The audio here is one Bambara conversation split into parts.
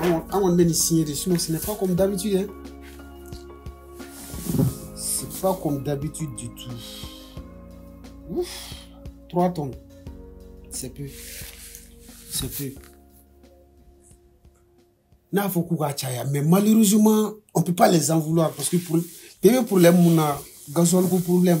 An kɔni bɛ nin siɲɛ de sinon ce n'est pas comme d'habitude hein. C'est pas comme d'habitude du tout. Ouf, 3 tonnes. C'est peu. C'est peu. N'a fɔ k'u ka caya mais malheureusement on peut pas les en vouloir parce que pour bɛɛ bɛ problème mun na gasoil ko problème.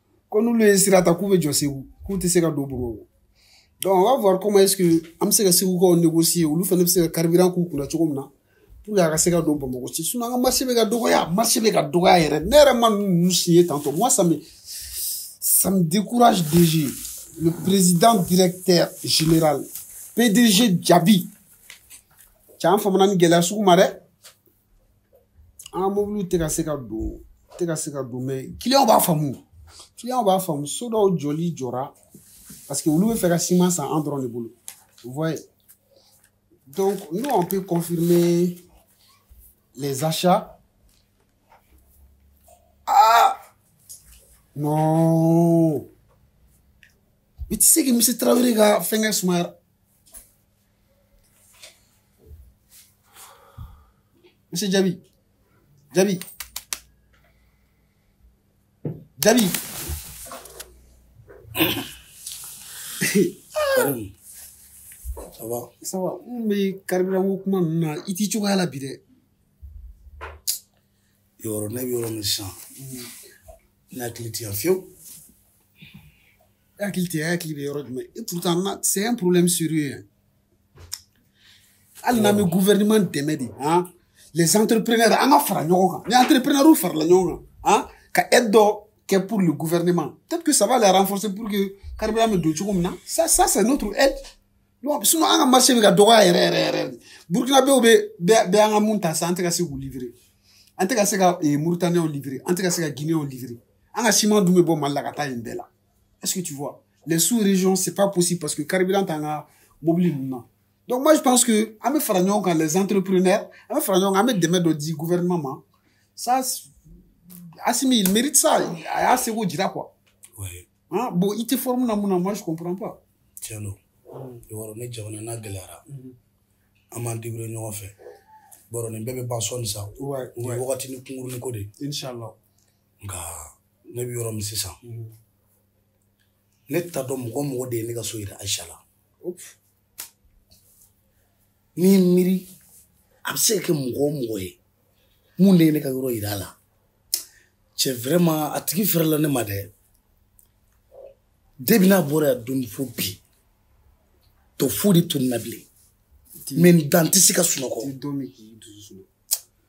ko n'olu ye sira ta k'u bɛ jɔ segu k'u tɛ se ka don bamakɔ donc on va voir comment est-ce que an bɛ se ka segukaw négocier olu fana bɛ se ka carburant k'u kunna cogo min na pour que a ka se ka don bamakɔ ci sinon an ka marché bɛ ka dɔgɔya marché bɛ ka dɔgɔya yɛrɛ ne yɛrɛ ma ninnu signer tantôt moi ça me ça me décourage déjà le président directeur général pdg djabi cɛ an famana nin gɛlɛya sugu ma dɛ an ka mobiliw tɛ ka se ka don tɛ ka se ka don mais kiliyanw b'a faamu kiliyanw b'a faamu so dɔw jɔli jɔra parce que olu b'a fɛ ka siman san an dɔrɔn de bolo voyez donc nous on peut confirmer les achats ah non mais tu sais que monsieur tarawele ka fɛnkɛ sumaya Monsieur Djabi. Djabi. Djabi. Ça va Ça va. Mais carburant ko kuma ninnu na i t'i cogoya la bi dɛ. Yɔrɔ ne bɛ yɔrɔ min sisan. N hakili tɛ yan fewu. hakili tɛ hakili bɛ yɔrɔ jumɛn et pourtant là c'est un problème sérieux hein. hali n'an bɛ gouvernement dɛmɛ de han les entrepreneurs an ka fara ɲɔgɔn kan ni entrepreneurs farala ɲɔgɔn kan han ka aide dɔ kɛ pour le gouvernement peut-être que ça va les renforcer pour que carburant bɛ don cogo min na ça ça c'est notre aide donc sinon an ka marché bɛ ka dɔgɔya yɛrɛ yɛrɛ yɛrɛ dɛ burkinabɛw bɛɛ bɛ an ka mun ta sisan an tɛ ka se k'u livrer an tɛ ka se ka mauritaniens livrer an tɛ ka se ka guinéens livrer An ka siman dun bɛ bɔ Mali la ka taa yen bɛɛ la. Est-ce que tu vois? Les sous-régions, c'est pas possible parce que carburant t'an ka mobili ninnu na. Donc moi je pense que an bɛ fara ɲɔgɔn kan les entrepreneurs, an bɛ fara ɲɔgɔn kan, an bɛ dɛmɛ dɔ di gouvernement ma. Ça, Assimi, il mérite ça. A y'a seko jira quoi. Ouais. Hein? Bon, i tɛ forme na mun na, moi je comprends pas. Tiɲɛ don. I b'a dɔn ni jamana n'a gɛlɛyara, an b'an débrouiller ɲɔgɔn fɛ. I b'a dɔn nin bɛɛ bɛ ban sɔɔni sa. Ouais, Nin ye ouais. wagatini kunkurunin ko de ye. Inch'Allah. nka ne bɛ yɔrɔ min sisan mhm. ne t'a dɔn mɔgɔ mɔgɔ de ye ne ka so yira ayisa la n'i miiri a bɛ se ka kɛ mɔgɔ o mɔgɔ ye mun de ye ne ka yɔrɔ yira a la cɛ vraiment a tigi fɛrɛla ne ma dɛ depuis n'a bɔra yan don fo bi to foyi tɛ don n na bilen maintenant n tɛ se ka sunɔgɔ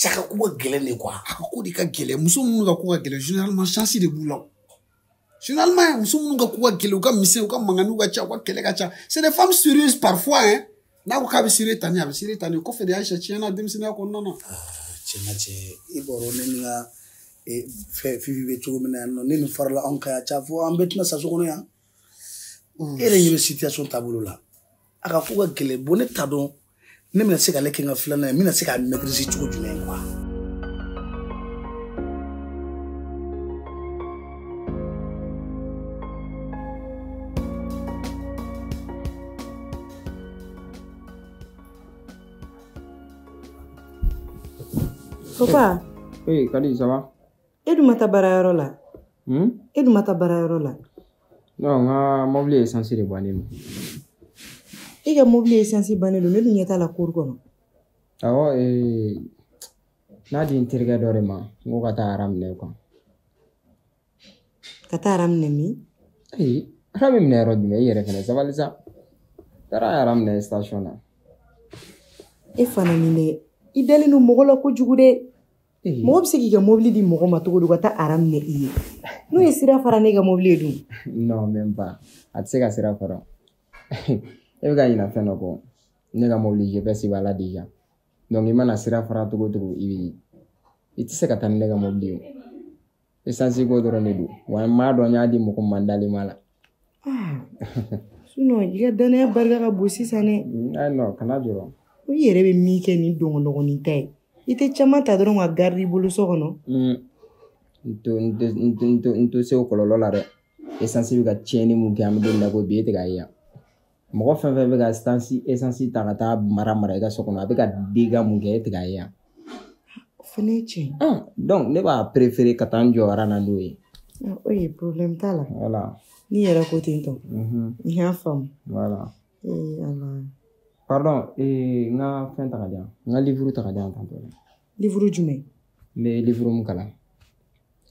caka ko ka gɛlɛn de quoi a ka ko de ka gɛlɛn muso minnu ka ko ka gɛlɛn généralement chance de b'u la généralement muso minnu ka ko ka gɛlɛn u ka misɛn u ka manganiw ka ca u ka kɛlɛ ka ca c'est des femmes sérieuses parfois hein n'a ko k'a bɛ sérieux ta ni a bɛ sérieux ta ni kɔfɛ de ayisa tiɲɛna denmisɛnninya kɔnɔna na tiɲɛna cɛ i b'a dɔn ne ni n ka fɛn fifi bɛ cogo min na yan nɔ ne nin farala anw kan yan ca fo an bɛɛ tɛna sa so kɔnɔ yan e yɛrɛ ɲɛ bɛ situation taabolo la a ka ko ka gɛlɛn bon ne t'a dɔn ne bɛna se k'ale kɛ n ka filanan ye n bɛna se k'a maîtriser cogo jumɛn quoi Papa. Oui, Kadi, ça va e dun ma taa baarayɔrɔ la hmm? e dun ma taa baarayɔrɔ la non n ka mɔbili esansi de bannen don i ka mɔbili esansi bannen don ne dun ɲɛ t'a la cour kɔnɔ awɔ n y'a di n terikɛ dɔ de ma n ko ka taa aran minɛ quoi ka taa aran minɛ min ayi aran bɛ minɛ yɔrɔ jumɛn i yɛrɛ fɛnɛ sabali sa taara aran minɛ station na e fana nin dɛ i dalen don mɔgɔ la kojugu dɛ mɔgɔ bɛ se k'i ka mobili di mɔgɔ ma cogo di ka taa aran minɛ i ye n'o ye sira fara n'e ka mobili ye dun non même pas a tɛ se ka sira fara e bɛ ka ɲinɛ fɛn dɔ kɔ ne ka mobili GPS b'a la déjà donc i mana sira fara cogo cogo i bɛ i tɛ se ka taa ni ne ka mobili ye esansi ko dɔrɔn de don wa n m'a dɔn n y'a di mɔgɔ ma n dalen b'a la sinɔn i ka dannaya barika ka bon sisan dɛ ayi non kana jɔrɔ i yɛrɛ bɛ min kɛ ni dɔgɔdɔgɔnin ta ye i tɛ caman ta dɔrɔn ka garidi i bolo so kɔnɔ n to se o kɔlɔlɔ la dɛ esansi bɛ ka tiɲɛni mun kɛ an bɛ don min na ko bi e tɛ k'a ye yan mɔgɔ fɛn fɛn bɛ ka esansi ta ka taa mara mara i ka so kɔnɔ a bɛ ka dégât mun kɛ e tɛ k'a ye yan o fana ye tiɲɛ ye donc ne b'a préféré ka taa n jɔ aran na n'o ye Ah, oui problème t'a la voilà n'i yɛrɛ ko ten tɔ mhm, n y'a faamu voilà ee ala pardon ee, n ka fɛn ta ka di yan n ka livre ta ka di yan tantɔ livre jumɛn n bɛ livre mun kalan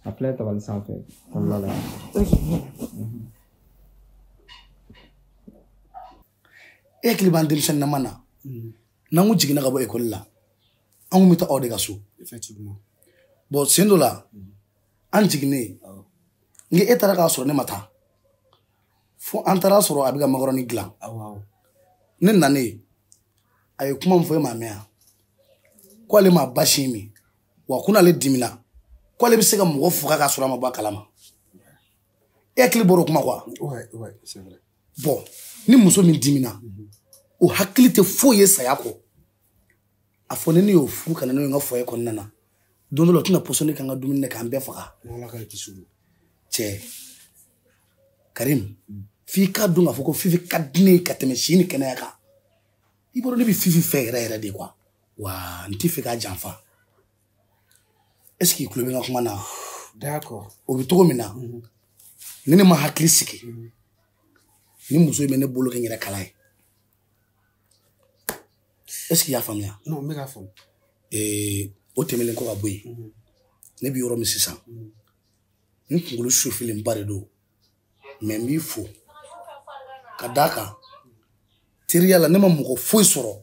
A filɛ tabali sanfɛ voilà e hakili b'an denmisɛnnin nama na mm. n'an kun jiginna ka bɔ ekɔli la an kun bɛ taa aw de ka so bon sen dɔ la mm. an jiginnen kɛ e taara k'a sɔrɔ ne ma taa fo an taara sɔrɔ a bɛ ka makɔrɔni dilan ne nanen a ye kuma min fɔ e m'a mɛn yan ko ale ma basi min wa ko n'ale dimina ko ale bɛ se ka mɔgɔ faga k'a sɔrɔ a ma bɔ a kalama e hakili bɔra o kuma kɔ wa bon ni muso min dimina o hakili tɛ foyi ye saya kɔ a fɔ ni ne y'o furu ka na n'o ye n ka foyer kɔnɔna na don dɔ la o tɛna pɔsɔni k'an ka dumuni na k'an bɛɛ faga cɛ karim mm. f'i k'a dɔn k'a fɔ ko fifi ka di ne ye ka tɛmɛ si ni kɛnɛya kan i b'o dɔn ne bɛ fifi fɛ yɛrɛ yɛrɛ de quoi wa n tɛ fɛ k'a janfa est ce que i tulo bɛ n ka kuma na d'accord o bɛ cogo min na mhm. ni ne ma hakili sigi mhm. ni muso in bɛ ne bolo kɛ n yɛrɛ kala ye est ce que i y'a faamuya non n bɛ k'a faamu ee o tɛmɛnen kɔ ka bɔ yen mhm. ne bɛ yɔrɔ min sisan n kunkolo sofelenba de don mais n b'i fo ka d'a kan teriya la ne ma mɔgɔ foyi sɔrɔ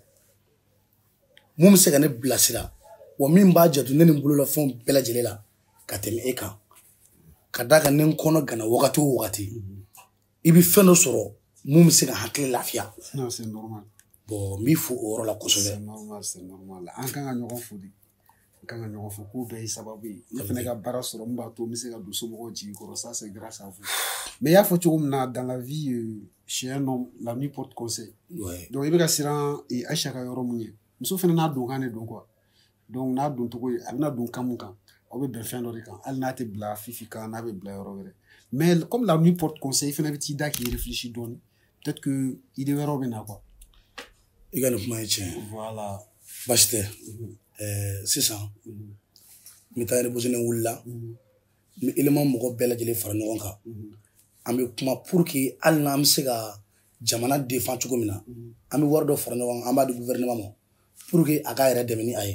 mun bɛ se ka ne bilasira wa min b'a janto ne ni n bololafɛnw bɛɛ lajɛlen la ka tɛmɛ e kan ka d'a kan ni n kɔnɔganna wagati o wagati i bɛ fɛn dɔ sɔrɔ mun bɛ se ka hakili lafiya bon n b'i fo o yɔrɔ la kosɛbɛ an kan ka ɲɔgɔn fo de kan ka ɲɔgɔn fo ko bɛɛ ye sababu ye ne fana ka baara sɔrɔ min b'a to n bɛ se ka don somɔgɔw jigi kɔrɔ ça c'est grâce à vous mais i y'a fɔ cogo min na dans la vie euh, chez un homme la nuit porte conseil ouais. donc i bɛ ka siran e, Aïcha ka yɔrɔ min ɲɛ muso fana n'a donkan de don quoi donc n'a doncogo ye a bɛna don kan mun kan aw bɛ bɛn fɛn dɔ de kan hali n'a tɛ bila fifi kan n'a bɛ bila yɔrɔ wɛrɛ mais comme la nuit porte conseil i fana bɛ t'i da k'i réfléchir dɔɔni peut-être que idée wɛrɛw bɛ na quoi i ka nin kuma ye tiɲɛ voilà baasi tɛ mhm. eh, sisan mhm. n bɛ taa reposene wula la mhm. n bɛ élément mɔgɔ bɛɛ lajɛlen fara ɲɔgɔn kan an bɛ kuma pour que hali n'an bɛ se ka jamana défend cogo min na an bɛ wari dɔ fara ɲɔgɔn kan an b'a di gouvernement ma pour que a k'a yɛrɛ dɛmɛ ni a ye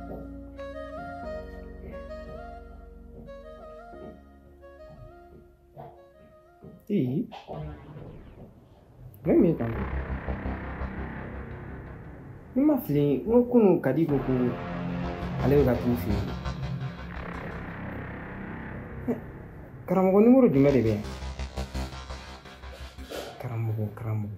Ih, même quand ni n ma fili n ko kunun kadi ko ko ale bɛ ka t'u fɛ yen karamɔgɔ nimɔrɔ jumɛn de bɛ yan karamɔgɔ karamɔgɔ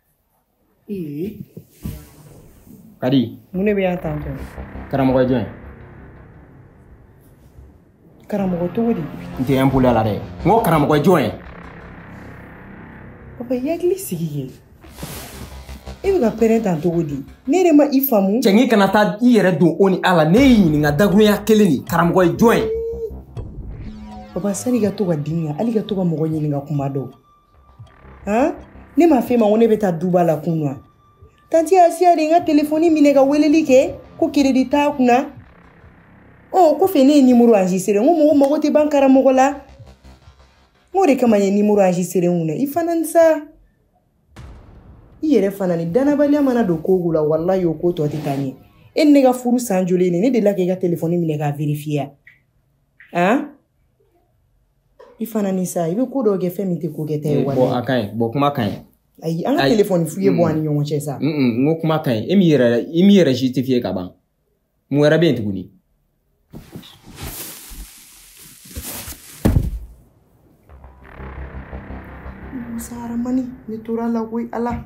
kadi mun de bɛ yan tan tɔ karamɔgɔ jɔn karamɔgɔ cogo di n tɛ impoliya la dɛ n ko karamɔgɔ jɔn ye papa i hakili sigi kɛ i bɛ ka pɛrɛn tan cogo di ne yɛrɛ ma i faamu cɛ n k'i kana taa i yɛrɛ don o ni a la ne y'i ɲininka dakuruɲa kelen nin karamɔgɔ ye jɔn ye papa sani i ka to ka dimi hali ka to ka mɔgɔ ɲininka kuma dɔw han ne m'a f'e ma ko ne bɛ taa duba la kun wa tanti asiya de ye n ka telefɔni minɛ ka weleli kɛ ko keredi t'a kunna ɔ oh, kɔfɛ ne ye nimoro enregistré n ko mɔgɔ mago tɛ ban karamɔgɔ la n k'o de kama n ye nimoro enregistré n kunna i fana ni sa i yɛrɛ fana ni dannabaliya mana don ko o ko la walayi o ko tɔ tɛ taa ɲɛ e ni ne ka furu san joli ye nin ne delila k'i ka telefɔni minɛ k'a vérifier wa han i fana ni sa i bɛ ko dɔw kɛ fɛn min tɛ ko kɛta ye walayi a ka ɲi bon kuma ka ɲi ayi an ka telefɔni fouiller bɔ an ni ɲɔgɔn cɛ sa n ko kuma ka ɲi e m'i yɛrɛ i m'i yɛrɛ justifier ka ban mun wɛrɛ bɛ yen tuguni musa aramani ne tɔɔrɔla koyi ala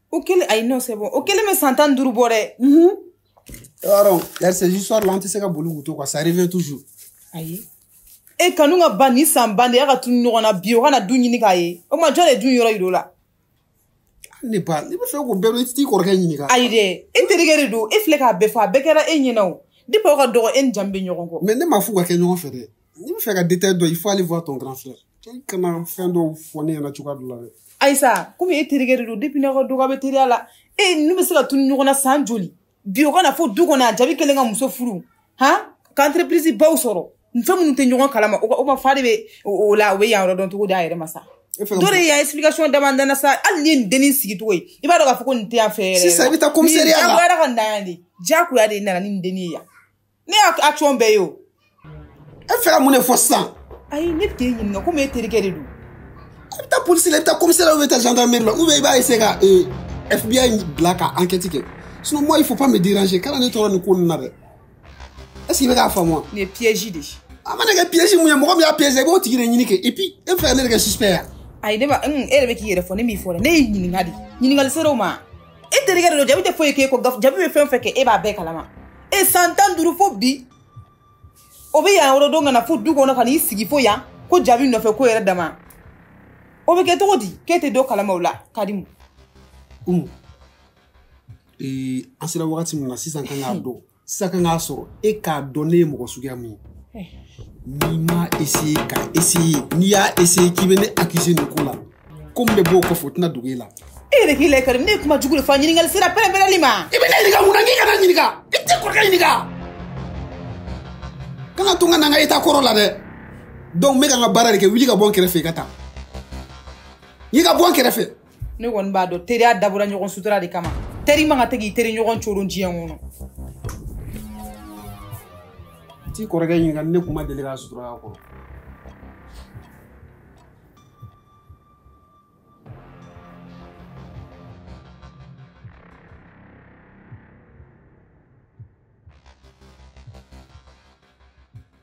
o kɛlen ayi non c'est bon o kɛlen bɛ san tan ni duuru bɔ dɛ. yɔrɔ yarisa histoire la an tɛ se ka boli k'u to quoi ça revient toujours. ayi e kanu ka ban ni san ban de y'a ka tunu ɲɔgɔn na bi o ka na du ɲini k'a ye o tuma jɔn de du in yɔrɔ yir'o la. n'e b'a n'e bɛ fɛ k'o bɛɛ dɔn i tɛ t'i kɔrɔkɛ ɲininka. ayi dɛ e terikɛ de don e filɛ k'a bɛɛ fɔ a bɛɛ kɛra e ɲɛna o depuis aw ka dɔgɔ e ni jabi bɛ ɲɔgɔn kɔ. mais ne m'a f'u ka kɛ ɲɔgɔn fɛ dɛ. n'i bɛ fɛ ka détail dɔn il faut aller voir ton grand frère i kana fɛn dɔw fɔ ne ɲɛna cogoya dɔ la dɛ ayi sa komi e terikɛ de don depuis n'aw ka dɔgɔ bɛ teriya la e n'u bɛ se ka tunu ɲɔgɔn na san joli bi o ka na fo du kɔnɔ a jabi kɛlen ka muso furu han ka entreprise baw sɔrɔ fɛn minnu tɛ ɲɔgɔn kalama o ka fa de bɛ o la o bɛ yan yɔrɔ dɔn cogo di a yɛrɛ ma sa dɔ de y'a explication d'a ma n dana sa hali n'i ye nin dennin sigi cogo ye i b'a dɔn k'a fɔ ko nin tɛ yan fɛ yɛrɛ sisan i bɛ taa commissariat la diyagoya ka na yan de diyagoya de nana ni nin dennin ye yan ne y'a action bɛɛ ye o e fɛ ka mun de fɔ sisan ayi ne bɛ k'e ɲininka komi e terikɛ de don i bɛ taa polisi la i bɛ taa commissariat la ou bɛ taa gendarmerie la ou bien i b'a essayer ka ee eh, FBI bila ka enquête kɛ sinon moi il faut pas me déranger kana ne tɔɔrɔ nin ko ninnu na dɛ est ce que i bɛ k'a faamu wa. nin ye piège de ye. a mana kɛ piège mun ye mɔgɔ min y'a piège i b'o tigi de ɲini kɛ et puis e bɛ fɛ ka ne de kɛ suspect ye. ayi ne ma e yɛrɛ bɛ k'i yɛrɛ fɔ ne m'i fɔ dɛ ne y'i ɲininka de ɲininkali ser'o ma. e terikɛ de don jabi tɛ foyi k'e kɔ jabi bɛ fɛn fɛn kɛ e b'a bɛɛ kalama e san tan duuru fo bi o bɛ yan yɔrɔ dɔn ka na fo du kɔnɔ ka n'i sigi fo yan ko jabi nɔfɛ ko yɛrɛ dama o bɛ kɛ cogo di k'e tɛ dɔ kalama o la karimu an sera wagati min na sisan kan k'a dɔn sisan kan k'a sɔrɔ e k'a dɔn ne ye mɔgɔ suguya min ye eh. n'i m'a essayer ka essayer n'i y'a essayer k'i bɛ ne accuser nin ko la ko min bɛ bɔ o kɔfɛ o tɛna dogo e la e yɛrɛ k'i lajɛ karimu ne ye kuma jugu de fɔ wa ɲininkali sera pɛrɛnpɛrɛnli ma i bɛ ne ɲininka mun na k'i kana ɲininka i t'i kɔrɔkɛ ɲininka kana to n ka na n ka état kɔrɔ la dɛ donc n bɛ ka n ka baara de kɛ wuli ka bɔ n kɛrɛfɛ i ka taa n'i ka bɔ n kɛrɛfɛ ne kɔni b'a dɔn teriya dabɔra ɲɔgɔn sutura de kama teri man kan tɛ k'i teri ɲɔgɔn coron diɲɛ kɔnɔ t'i kɔrɔkɛ ɲininka ne kun ma deli k'a sutura kɔrɔ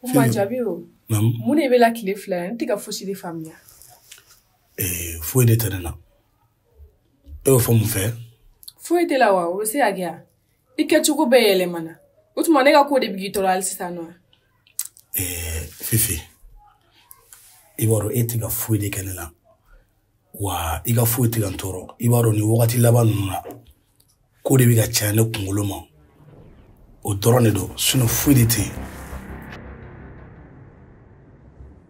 Kuma jaabi o mun de b'e la tile fila n tɛ ka fosi de faamuya eh, foyi de tɛ ne na e y'o fɔ mun fɛ foyi t'e la wa o bɛ se ka kɛ wa i kɛcogo bɛɛ yɛlɛmana o tuma ne ka ko de bɛ k'i tɔɔrɔ hali sisan non eh, fifi i b'a dɔn e tɛ ka foyi de kɛ ne la wa i ka foyi tɛ ka n tɔɔrɔ i b'a dɔn nin wagati laban ninnu na ko de bɛ ka caya ne kunkolo ma o dɔrɔn de don sinon foyi de tɛ yen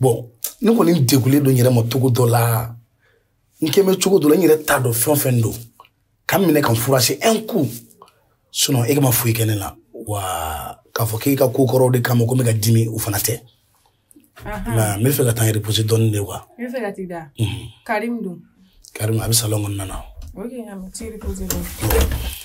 bon ne kɔni degulen don n yɛrɛ ma cogo dɔ la n kɛ bɛ cogo dɔ la n yɛrɛ t'a dɔn fɛn o fɛn don ka n minɛ ka n furase un coup sinon e ka ma foyi kɛ ne la wa k'a fɔ k'e ka ko kɔrɔw de kama ko n bɛ ka dimi o fana tɛ nka n b'a fɛ ka taa n reposer dɔɔni de quoi i b'a fɛ ka t'i da karim dun karim a bɛ salon kɔnɔna na ok a bɛ t'i reposer dɔɔni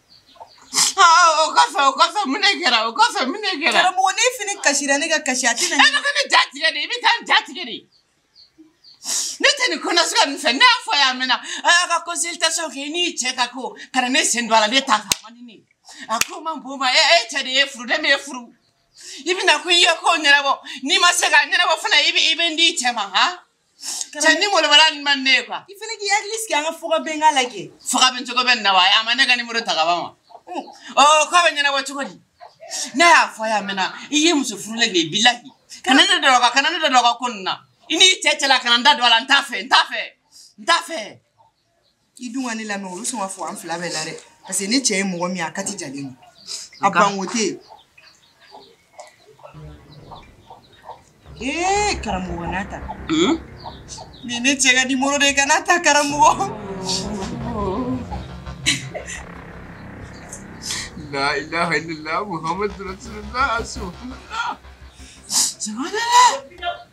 o kɔfɛ o kɔfɛ mun ne kɛra o kɔfɛ mun ne kɛra. karamɔgɔ ne fini kasira ne ka kasi a tɛna. e bɛ ka ne ja tigɛ de i bɛ taa n ja tigɛ de. ne tɛ nin kɔnɔ suga nin fɛ ne y'a fɔ a y'a mɛnna a y'a ka consultation kɛ i n'i cɛ ka ko kana ne sen don a la ne t'a fɛ a man di ne ye a ko man bon ma e e cɛ de y'e furu ne m'e furu i bɛna ko i y'a ko ɲɛnabɔ n'i ma se k'a ɲɛnabɔ fana i bɛ i bɛ n di i cɛ ma han. cɛ ni molobala ni ma ne ye quoi i fana k'i hakili sigi an ka fɔ ka bɛn k'a lajɛ fɔ ka bɛn cogo bɛ nin na wa a ma ne ka nimoro ta ka ban wa ɔ k'a bɛ ɲɛnabɔ cogo di ne y'a fɔ a y'a mɛnna i ye muso furulen de ye bilahi kana ne dɔ ka kana ne da don a ka ko nin na i n'i cɛ cɛla kana n da don a la n t'a fɛ n t'a fɛ n t'a fɛ i dun ka ne lamɛn olu sɔn ka fɔ an fila bɛɛ la dɛ parce que ne cɛ ye mɔgɔ min ye a kati jalen don a banko tɛ yen ee karamɔgɔ kan'a ta nin ne cɛ ka nimoro de kan'a ta karamɔgɔ la ilaha illallah muhammadu rasulullah subhanallah subhanallah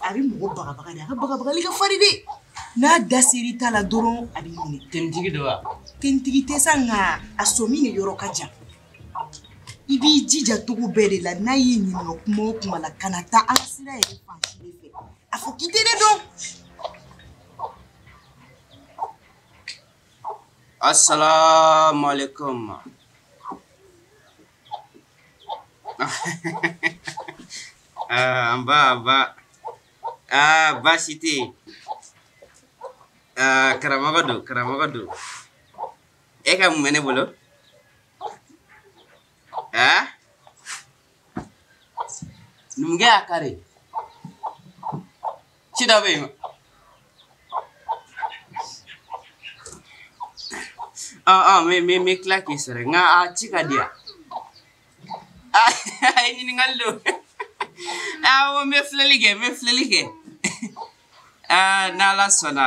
a bɛ mɔgɔ bagabaga de a ka bagabagali ka farin dɛ n'a da ser'i ta la dɔrɔn a b'i minɛ tenitigi don wa tenitigi tɛ sa nka a sɔmi de yɔrɔ ka jan i b'i jija cogo bɛɛ de la n'a y'i ɲininka kuma o kuma la kana taa an ka sira yɛrɛ fan si de fɛ a fɔ k'i tɛ ne dɔn asalaamaaleykum Ah, nba nba aa baasi tɛ yen aa karamɔgɔ don karamɔgɔ don e ka mun bɛ ne bolo aa numukɛ y'a kari ci dɔ bɛ a a me me me tila k'i sɔrɔ nka a ci ka di yan a ye ɲininkali don awɔ n bɛ filɛli kɛ n bɛ filɛli kɛ aa n'ala sɔnna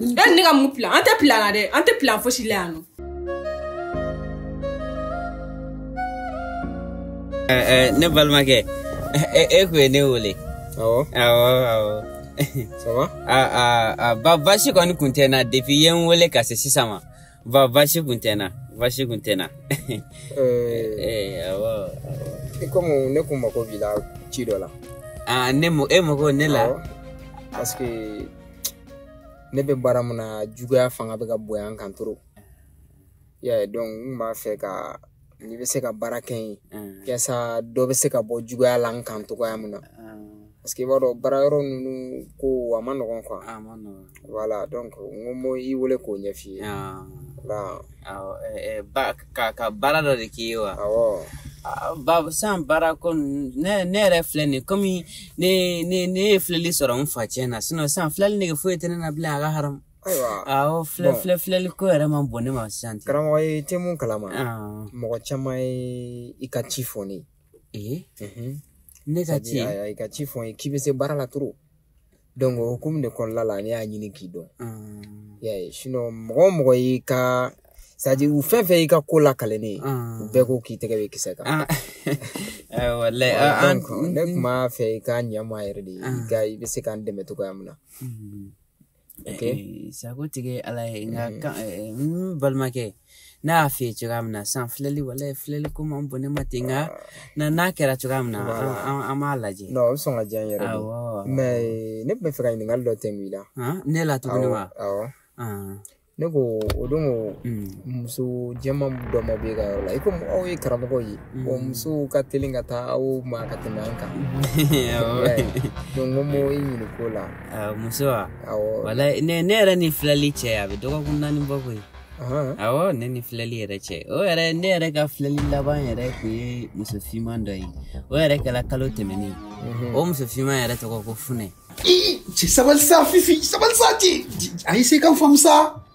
e ne ka mun plan an tɛ plan na dɛ an tɛ plan fosi la yan non ne balimakɛ e kun ye ne wele awɔ awɔ awɔ ça va a a a ba baasi kɔni kun tɛ n na depuis i ye n wele ka se sisan ma ba baasi kun tɛ n na baasi kun tɛ n na awɔ i komi ne kun mago b'i la ci dɔ la ah, ne e mago ne la parce que ne bɛ baara min na juguya fanga bɛ ka bonya n kan trop i y'a ye donc n kun b'a fɛ ka n'i bɛ se ka baara kɛ n ye yaasa dɔ bɛ se ka bɔ juguya la n kan cogoya min na parce que i b'a dɔn baara yɔrɔ ninnu ko a ma nɔgɔn quoi a ma nɔgɔn voilà n ko n bɛ i wele k'o ɲɛf'i ye ka ka baara dɔ de k'i ye wa awɔ bon san baara ko ne ne yɛrɛ filɛ nin komi ne ne ne ye filɛli sɔrɔ n fa ciyɛn na sinon sisan filɛli nege foyi tɛ ne na bilen a ka haramu ayiwa awɔ filɛ filɛ filɛli ko yɛrɛ ma bon ne ma sisan ten karamɔgɔ i tɛ mun kalama mɔgɔ caman ye i ka ci fɔ ne ye ne ka ci i ka ci fɔ n ye k'i bɛ se baara la trop donc o hukumu de kɔnɔna la ne y'a ɲini k'i dɔn y'a ye sinon mɔgɔ o mɔgɔ y'i ka c'est-à-dire u fɛn fɛn y'i ka ko lakali ne ye u bɛɛ ko k'i tɛgɛ bɛ kisɛ kan walayi ne tun b'a fɛ i ka ɲɛma yɛrɛ de i ka i bɛ se k'an dɛmɛ cogoya min na sagotigi ye ala ye nka n balimakɛ ne y'a f'i ye cogoya min na sa filɛli wala filɛli ko man bon ne ma ten nka na n'a kɛra cogoya min na an b'a lajɛ o bɛ sɔn ka diya n yɛrɛ de mais ne tun bɛ fɛ ka ɲininkali dɔ de k'i la ne la tuguni wa ne ko o don ko muso jɛman dɔ ma bɛ e ka yɔrɔ la i komi aw ye karamɔgɔw ye o musow ka teli ka taa aw ma ka tɛmɛ an kan donc n ko n b'i ɲininka o la muso wa wala ne yɛrɛ ni filɛli cɛ a bɛ dɔgɔkun naani bɔ koyi awɔ ne ni filɛli yɛrɛ cɛ o yɛrɛ ne yɛrɛ ka filɛli laban yɛrɛ tun ye muso finman dɔ ye o yɛrɛ kɛra kalo tɛmɛnen mhm. o muso finman yɛrɛ tɔgɔ ko funɛ cɛ sabali sa fifi sabali sa cɛ a ye se kan faamu sa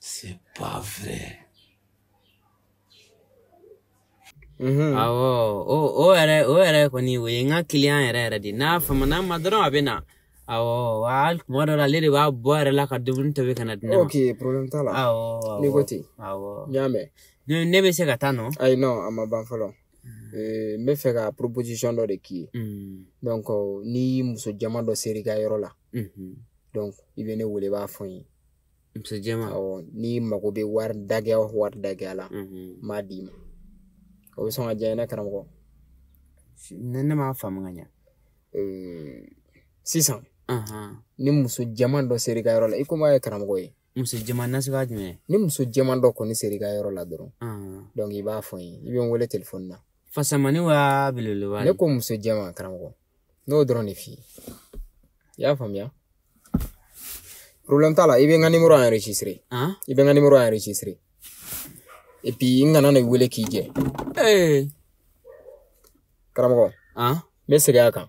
C'est pas vrai. Mhm. awɔ o o yɛrɛ o yɛrɛ kɔni o ye n ka kiliyan yɛrɛ yɛrɛ de n'a famana n ma dɔrɔn a bɛ na awɔ wa hali tuma dɔ la ale de b'a bɔ yɛrɛ la ka dumuni tobi ka na di ne ma ok problème t'a la awɔ awɔ n'i ko ten awɔ n y'a mɛn ne ne bɛ se ka taa non ayi non a ma ban fɔlɔ Eh, n bɛ fɛ ka proposition dɔ de k'i ye Mm. donc ni muso jɛman dɔ sera i ka yɔrɔ la i bɛ ne wele i b'a fɔ n ye muso jɛman awɔ n'i mago bɛ wari dagɛya o wari dagɛya la n b'a d'i ma o bɛ sɔn ka diya i ye ne karamɔgɔ ne ne m'a faamu ka ɲɛ sisan ni muso jɛman dɔ sera i ka yɔrɔ la i komi a ye karamɔgɔ ye muso jɛman nasuguya jumɛn ni muso jɛman dɔ kɔni sera i ka yɔrɔ la dɔrɔn donc i b'a fɔ n ye i bɛ n wele telefɔni na fasamani wa belebeleba ne ko muso jɛman karamɔgɔ n y'o dɔrɔn de f'i ye i y'a faamuya problème t'a la i bɛ n ka numéro enregistré i bɛ n ka numéro enregistré et puis n kana n'i wele k'i jɛ karamɔgɔ n bɛ segin a kan